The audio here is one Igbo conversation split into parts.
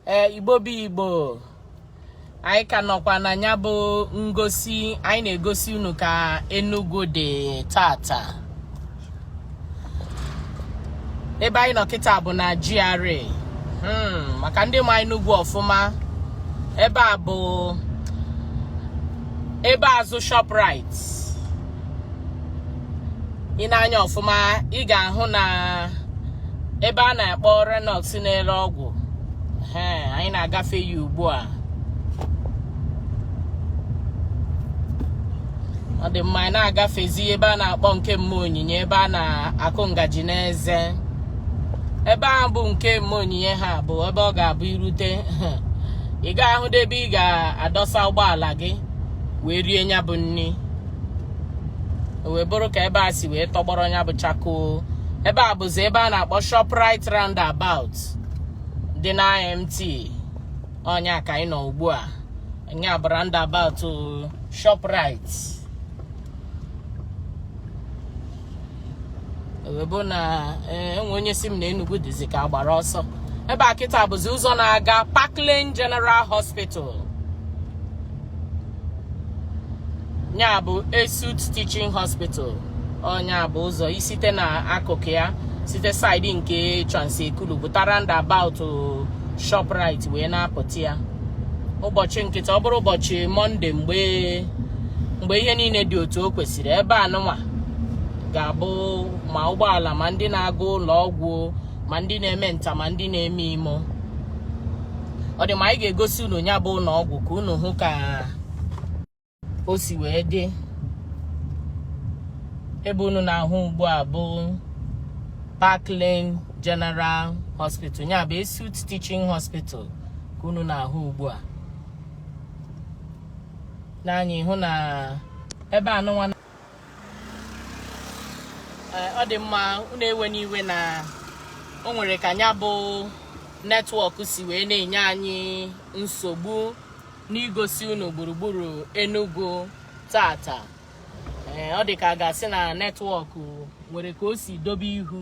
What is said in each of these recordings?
ee igbo bụ igbo anyị ka nọkwa na nya bụ ngosi anyị na-egosi unu ka Enugu dị tata ebe anyị nọ kịta bụ na GRA hmm, maka ndị ma Enugu ọfụma ebe a bụ ebe azụ Shoprite i nee anya ọfụma ị ga-ahụ na ebe a na-akpọ Renhocks na-ere ọgwụ anyị na-agafe ya ugbu a ọ dị mma anyị na-agafezi ebe a na-akpọ nke mma onyinye ebe a na-akụ ngaji n'eze ebe ahụ bụ nke mma onyinye ha bụ ebe ọ ga-abụ i rute ị ga-ahụ ebe ị ga-adọsa ụgbọala gị wee rie nya bụ nri wee bụrụ ka ebe a si wee tọgbọrọ nya bụ chakoo ebe a bụzi ebe a na-akpọ Shoprite roundabout dị na IMT ọ nya ka anyị nọ ugbu a nya bụ roundabout Shoprite ewebụ na enwe onye sị m na Enugu dịzi ka a gbara ọsọ ebe a kịta bụzi ụzọ na-aga Park Lane General Hospital nya bụ Esut Teaching Hospital ọ nya bụ ụzọ i site na akụkụ ya site saịdị nke Trans Ekulu pụta roundabout Shoprite wee na-apụta ya ụbọchị nkịta ọ bụrụ ụbọchị mọnde mgbe ihe niile dị otu o kwesịrị ebe anụnwa ga-abụ ma ụgbọala ma ndị na-aga ụlọ ọgwụ ma ndị na-eme nta ma ndị na-eme imo ọ dị mma anyị ga-egosi unu nya bụ ụlọ ọgwụ ka unu hụ ka o si wee dị ebe unu na-ahụ ugbu a bụ Park Lane General Hospital nya bụ Esut Teaching Hospital ka unu na-ahụ ugbu a n'anya ị hụ na ebe anụnwa ọ dị mma unu ewena iwe na o nwere ka nya bụ netwọk si wee na-enye anyị nsogbu n'igosi unu gburugburu Enugu tata ee ọ dị ka a ga-asị na netwọk nwere ka o si dobe ihu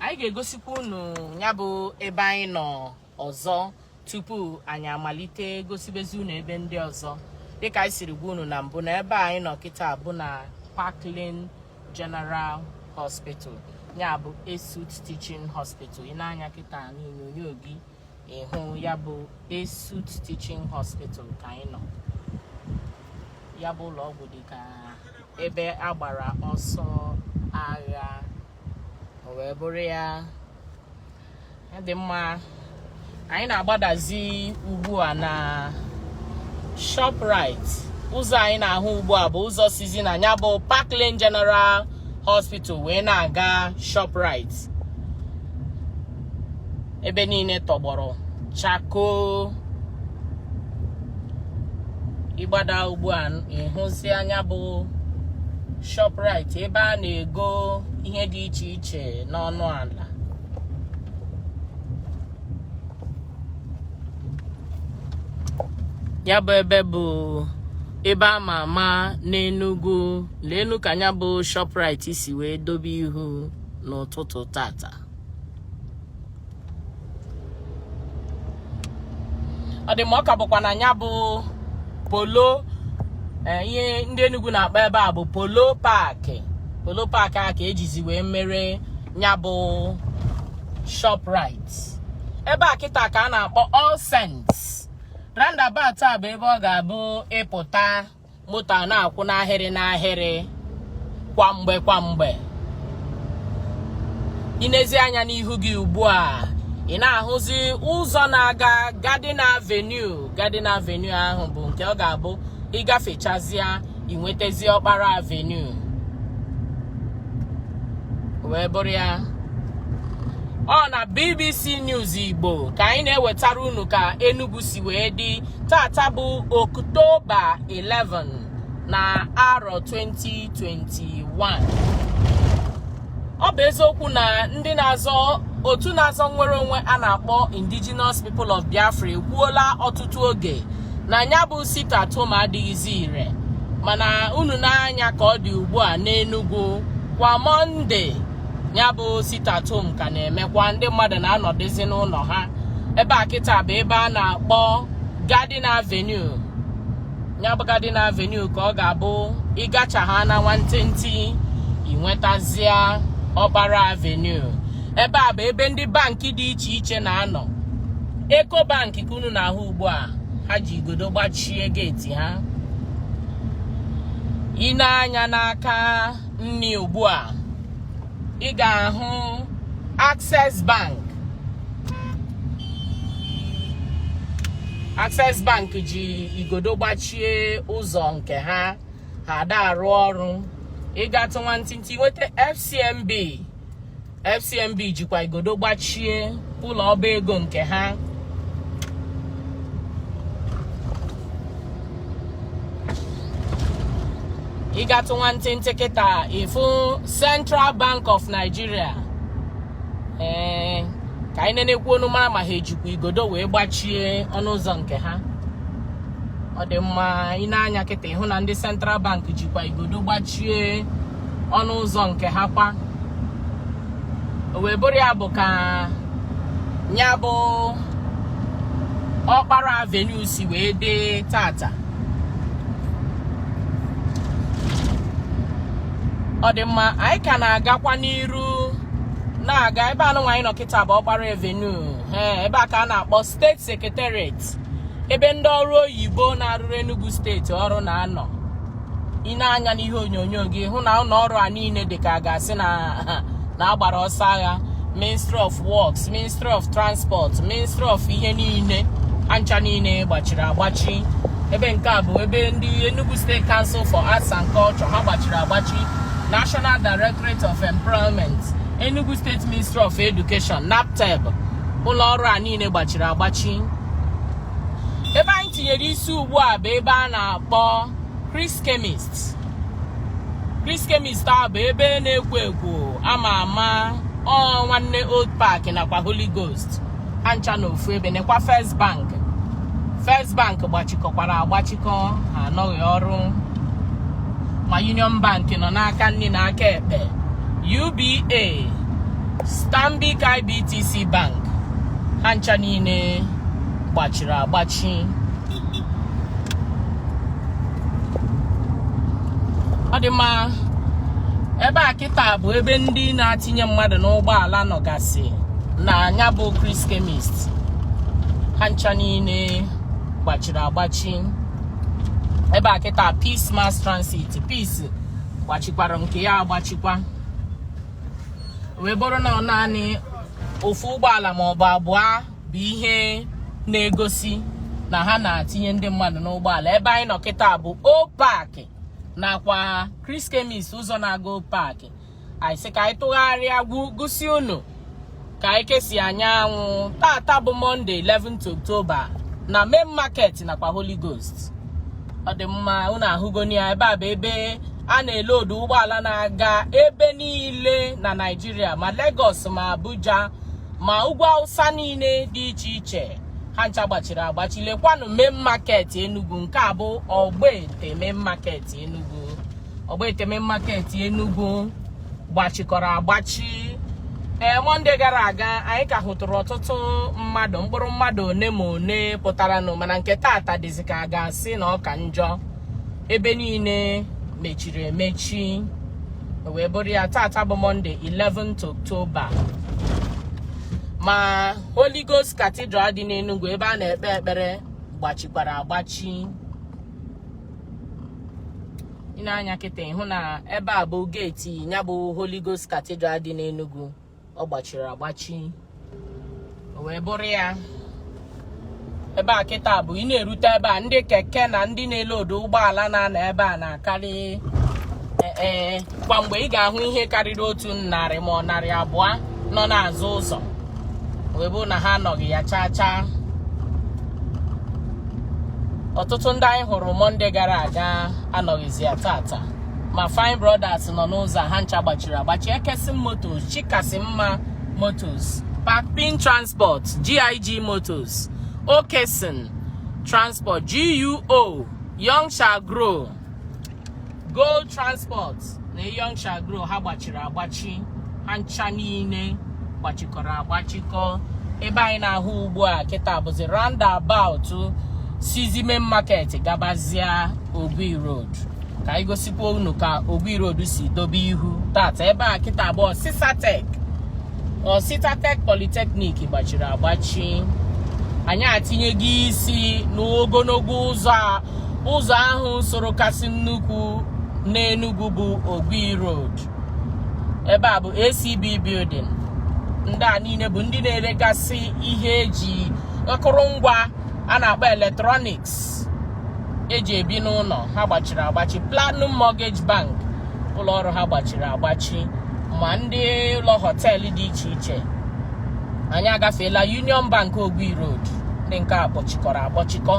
anyị ga-egosikwa unu nya bụ ebe anyị nọ ọzọ tupu anyị amalite gosibezi unu ebe ndị ọzọ dịka anyị siri gwa unu na mbụ na ebe anyị nọ kịta bụ na Parklane General Hospital ya bụ Esut Teaching Hospital i nee anya kịta n'onyonyo gị ị hụ ya bụ Esut Teaching Hospital ka anyị nọ ya bụ ụlọ ọgwụ dị ka ebe a gbara ọsọ agha o wee bụrụ ya ọ dị mma anyị na-agbadazi ugbu a na Shoprite ụzọ anyị na-ahụ ugbu a bụ ụzọ sizi na ya bụ Parklane General Hospital wee na-aga Shoprite ebe niile tọgbọrọ chakoo ị gbada ugbu a ị hụzia nya bụ Shoprite ebe a na-ego ihe dị iche iche n'ọnụ ala ya bụ ebe bụ ebe a ma ama n'Enugu leenu ka ya bụ Shoprite si wee dobe ihu n'ụtụtụ tata ọ dị mma ọ ka bụkwa na ya bụ Polo eh, ihe ndị Enugu na-akpọ ebe a bụ Polo Park Polo Park a ka e jizi wee mere ya bụ Shoprite ebe a kịta ka a na-akpọ All Saints roundabout a bụ ebe ọ ga-abụ ị pụta moto na-akwụ n'ahịrị n'ahịrị kwa mgbe kwa mgbe i nezie anya n'ihu gị ugbu a ị na-ahụzi ụzọ na-aga Garden Avenue Garden Avenue ahụ bụ nke ọ ga-abụ ị gafechazịa i nwetazi Ọkpara Avenue wee bụrụ ya ọ na BBC News Igbo ka anyị na-ewetara unu ka Enugu si wee dị tata bụ Ọktoba 11 na arọ 2021 ọ bụ eziokwu na ndị na-azọ otu na-azọ nnwere onwe a na-akpọ Indigenous People of Biafra ekwuola ọtụtụ oge na ya bụ sit at home adịghịzi ire mana unu nee anya ka ọ dị ugbu a n'Enugwu kwa Mọnde ya bụ sit at home ka na-emekwa ndị mmadụ na-anọdụzi n'ụlọ ha ebe a kịta bụ ebe a na-akpọ Garden Avenue ya bụ Garden Avenue ka ọ ga-abụ ị gacha ha na nwantịntị i nwetazia Ọkpara Avenue ebe a bụ ebe ndị bankị dị iche iche na-anọ Ecobank ka unu na-ahụ ugbu a ha ji igodo gbachie geeti ha i nee anya n'aka nni ugbu a ị ga-ahụ Access Bank Access Bank ji igodo gbachie ụzọ nke ha ha ada arụ ọrụ ị gatụ nwantịntị nweta FCMB FCMB jikwa igodo gbachie ụlọ ọba ego nke ha ị gatụ nwantịntị kịta ị fụ Central Bank of Nigeria ee eh, ka anyị nekwuonụ mara ma ha ejikwa igodo wee gbachie ọnụ ụzọ nke ha ọ dị mma i nee anya kịta ị hụ na ndị Central Bank jikwa igodo gbachie ọnụ ụzọ nke ha kwa o wee bụrụ ya bụ ka nya bụ Ọkpara Avenue si wee dị taata ọ dị mma anyị ka na-agakwa n'iru na-aga ebe anụnwa anyị nọ kịta bụ Ọkpara Avenue ee ebe a ka a na-akpọ State Secretariat ebe ndị ọrụ oyibo na-arụrụ Enugu steeti ọrụ na-anọ i nee anya n'ihe onyonyo gị hụ na ụlọ ọrụ a niile dị ka a ga-asị na a gbara ọsọ agha ministry of works ministry of transport ministry of ihe niile ha ncha niile gbachiri agbachi ebe nke a bụ ebe ndị Enugu State Council for Arts and Culture ha gbachiri agbachi National Directorate of Employment Enugu State Ministry of Education NABTEB ụlọ ọrụ a niile gbachiri agbachi ebe anyị tinyere isi ugbu a bụ ebe a na-akpọ Chris Chemist Chris Chemist a bụ ebe na-ekwo ekwo a ma ama ọ nwanne Old Park nakwa Holy Ghost ha ncha n'ofu ebe nekwa First Bank First Bank gbachikọkwara agbachikọ ha anọghị ọrụ ma Union Bank nọ n'aka nni na aka ekpe UBA Stanbic IBTC Bank ha ncha niile gbachiri agbachi ọ dị mma ebe a kịta bụ ebe ndị na-atinye mmadụ n'ụgbọala nọgasị na nya bụ Chris Chemist ha ncha niile gbachiri agbachi ebe a kịta Peace Mass Transit Peace gbachikwara nke ya agbachikwa wee bụrụ na ọ naanị ofu ụgbọala ma ọ bụ abụọ bụ ihe na-egosi na ha na-atinye ndị mmadụ n'ụgbọala ebe anyị nọ kịta bụ Old Park nakwa Chris Chemist ụzọ na-aga Old Park anyị sị ka anyị tụgharịa gosi unu ka anyị kesi anyanwụ tata bụ mọnde 11th October na main market nakwa Holy Ghost ọ dị mma unu ahụgoni ya ebe a bụ ebe a na-eloodu ụgbọala na-aga ebe niile na Naịjirịa ma Lagos ma Abuja ma ugwu awụsa niile dị iche iche ha ncha gbachiri agbachi lekwanụ main market Enugu nke a bụ Ogbete main market Enugu Ogbete main market Enugu gbachikọrọ agbachi ee eh, mọnde gara aga anyị ka hụtụrụ ọtụtụ mmadụ mkpụrụ mmadụ one ma one pụtaranụ mana nke taata dịzi ka a ga-asị na ọ ka njọ ebe niile mechiri emechi wee bụrụ ya tata bụ mọnde 11th October ma Holy Ghost Cathedral dị n'Enugu ebe a na-ekpe ekpere gbachikwara agbachi i nee anya kịta ị hụ na ebe a bụ geeti ya bụ Holy Ghost Cathedral dị n'Enugu ọ gbachiri agbachi wee bụrụ ya ebe a kịta bụ ị na-erute ebe a ndị keke na ndị na-eloodu ụgbọala na-anọ ebe a na-akarị ee e, kwa mgbe ị ga-ahụ ihe karịrị otu narị ma ọ narị abụọ nọ n'azụ ụzọ wee bụ na ha anọghị ya chaa chaa ọtụtụ ndị anyị hụrụ mọnde gara aga anọghịzi ya tata ma fine brothers nọ n'ụzọ ha ncha gbachiri agbachi Ekeson Motors Chikasimma Motors pakpin transport GIG Motors Okeyson transport GUO young shall grow gold transport na young shall grow ha gbachiri agbachi ha ncha niile gbachikọrọ agbachikọ ebe anyị na-ahụ ugbu a kịta bụzi roundabout sizi main market gabazia Ogui Road ka anyị gosikwa unu ka Ogui Road si dobe ihu tata ebe a kịta bụ Osisatech Osisatech Polytechnic gbachiri agbachi anyị atinyego isi n'ogologo ụzọ ahụ soro kasị nnukwu n'Enugu bụ Ogui Road ebe a bụ ACB building ndị a niile bụ ndị na-eregasị ihe eji akụrụngwa a na-akpọ electronics eji ebi n'ụlọ ha gbachiri agbachi Platinum Mortgage Bank ụlọ ọrụ ha gbachiri agbachi ma ndị ụlọ họteelụ dị iche iche anyị agafeela Union Bank Ogui Road ndị nke a kpọchikọrọ akpọchikọ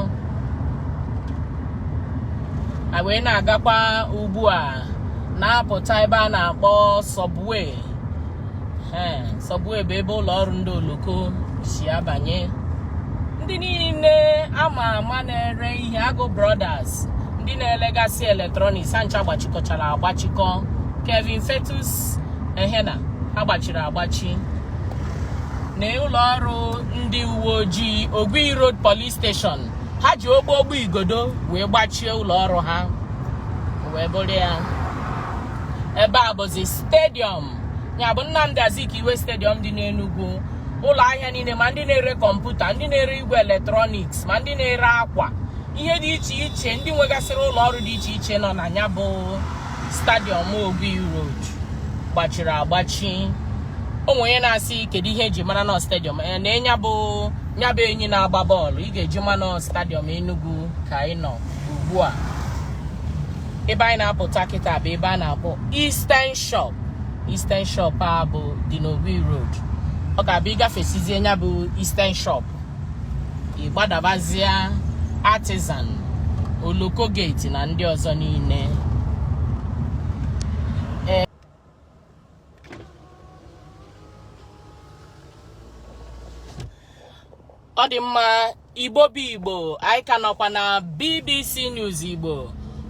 a wee na-agakwa ugbu a na-apụta ebe a na-akpọ subway subway bụ ebe ụlọ ọrụ ndị oloko si abanye ndị niile ama ama na-ere ihe agụ brothers ndị na-elegasị eletrọniks ha ncha gbachikọchara agbachikọ kevin fetus ehena ha gbachiri agbachi na ụlọ ọrụ ndị uwe ojii ogui road police station ha ji ogbo ogbo igodo wee gbachie ụlọ ọrụ ha wee bụrụ ya ebe a bụzi stadiọm ya bụ Nnamdi Azikiwe stadiọm dị n'Enugu ụlọ ahịa niile ma ndị na-ere kọmputa ndị na-ere igwe eletrọniks ma ndị na-ere akwa ihe dị iche iche ndị nwegasịrị ụlọ ọrụ dị iche iche nọ na nya bụ stadiọm Ogui Road gbachiri agbachi o nwee onye na-asị kedu ihe e ji mara na stadiọm eh, na nya bụ nya bụ enyi na-agba bọọlụ ị ga-eji mara na stadiọm Enugu ka ị nọ ugbu a ebe anyị na-apụta kịta bụ ebe a na-akpọ Eastern Shop Eastern Shop a bụ dị n'Ogui Road ọ ga-abụ ị gafesizie nya bụ Eastern Shop ị gbadabazia Artisan Oloko Gate na ndị ọzọ niile ọ dị mma igbo bụ igbo anyị ka nọkwa na bbc news igbo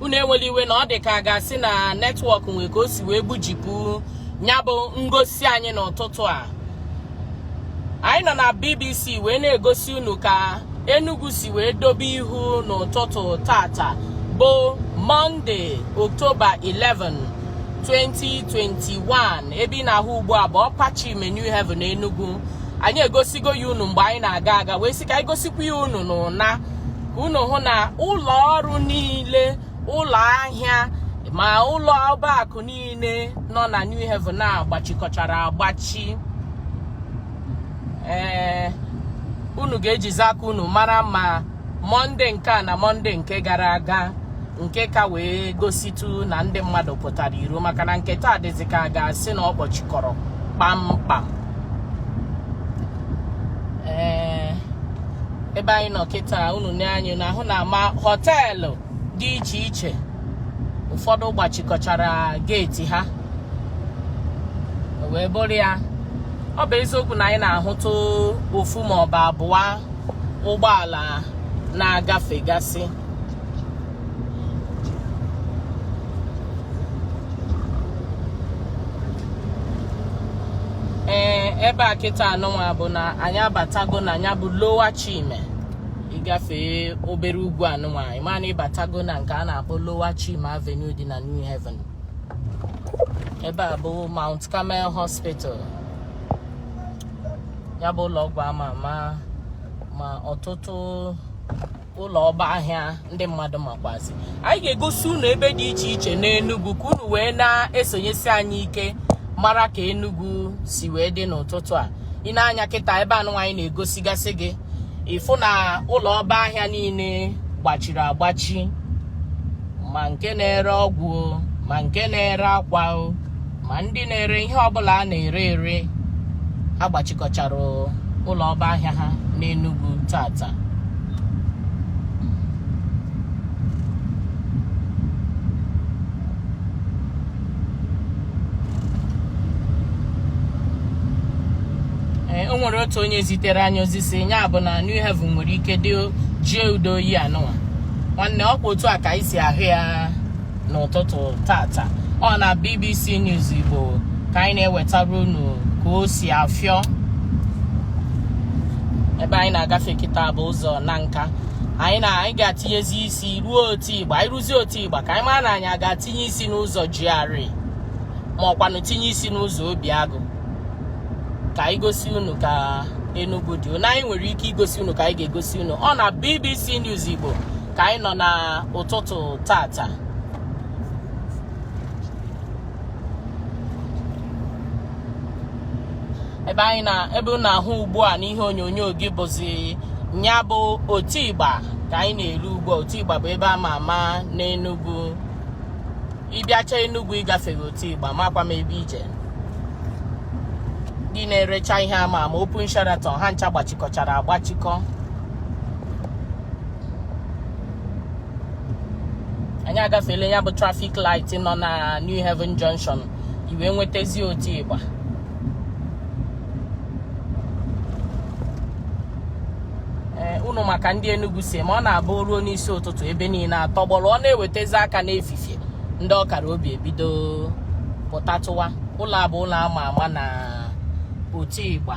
unu enwela iwe na ọ dị ka a ga-asị na netwọk nwee ka o si wee gbujipụ nya bụ ngosi anyị n'ụtụtụ a anyị nọ na BBC wee na-egosi unu ka Enugu si wee dobe ihu n'ụtụtụ tata bụ Mọnde Oktoba 11 2021 ebe ị na-ahụ ugbu a bụ Upper Chime New Haven Enugu anyị egosigo ya unu mgbe anyị na-aga aga wee sị ka anyị gosikwa ya unu n'ụna ka unu hụ na ụlọ ọrụ niile ụlọ ahịa ma ụlọ ọba akụ niile nọ na New Haven a gbachikọchara agbachi ee unu ga-ejizi aka unu mara ma mọnde nke a na mọnde nke gara aga nke ka wee gositụ na ndị mmadụ pụtara iro maka na nke taa dịzị ka a ga-asị na ọ kpọchikọrọ kpamkpam ee ebe anyị nọ kịta unu na anyị na-ahụ na ma họteelụ dị iche iche ụfọdụ gbachikọchara geeti ha o wee bụrụ ya ọ bụ eziokwu na anyị na-ahụtụ ofu ma ọ bụ abụọ ụgbọala na-agafegasị ee ebe a kịta anụnwa bụ na anyị abatago na ya bụ Lower Chime ịgafee obere ugwu anụnwa ị ma na ịbatago na nke a na-akpọ Lower Chime Avenue dị na New Haven ebe a bụ Mount Carmel Hospital ya bụ ụlọ ọgwụ ama ama ma ọtụtụ ụlọ ọba ahịa ndị mmadụ makwazi anyị ga-egosi unu ebe dị iche iche n'Enugu ka unu wee na-esonyesi anyị ike mara ka Enugu si wee dị n'ụtụtụ a i nee anya kịta ebe anụnwa anyị na-egosigasị gị ị fụ na ụlọ ọba ahịa niile gbachiri agbachi ma nke na-ere ọgwụ ma nke na-ere akwa ma ndị na-ere ihe ọbụla a na-ere ere agbachikọchara ụlọ ọba ahịa ha n'Enugu tata o nwere otu onye zitere anyị ozi sị ya bụ na New Haven nwere ike dị jie udo oyi anụwa nwanne ọkwa otu a ka anyị si ahụ ya n'ụtụtụ tata ọ na BBC News Igbo ka anyị na-ewetara unu ka o si afịọ ebe anyị na-agafe kịta bụ ụzọ na nke anyị ga-atinyezi isi ruo Otigba anyị ruzie Otigba ka anyị mara na anyị ga-atinye isi n'ụzọ GRA ma ọkwanụ tinye isi n'ụzọ Obiagụ ka anyị gosi unu ka Enugu dị na anyị nwere ike igosi unu ka anyị ga-egosi unu ọ na BBC News Igbo ka anyị nọ na ụtụtụ tata ebe anyị na ebe ị na-ahụ ugbu a n'ihe onyonyo gị bụzi nya bụ Otigba ka anyị na-eru ugbu a Otigba bụ ebe a ma ama n'Enugu ị bịacha Enugu ị gafeghị Otigba makwa m ebe i je ndị na-erecha ihe ama ama Open Sharaton ha ncha gbachikọchara agbachikọ anyị agafeela ya bụ traffic light nọ na New Haven Junction i wee nwetazi Otigba unu ma ka ndị Enugu si eme ọ na-abụ ruo n'isi ụtụtụ ebe niile atọgbọrọ ọ na-ewetezi aka n'efifie ndị ọ kara obi ebido pụtatụwa ụlọ a bụ ụlọ ama ama na Otigba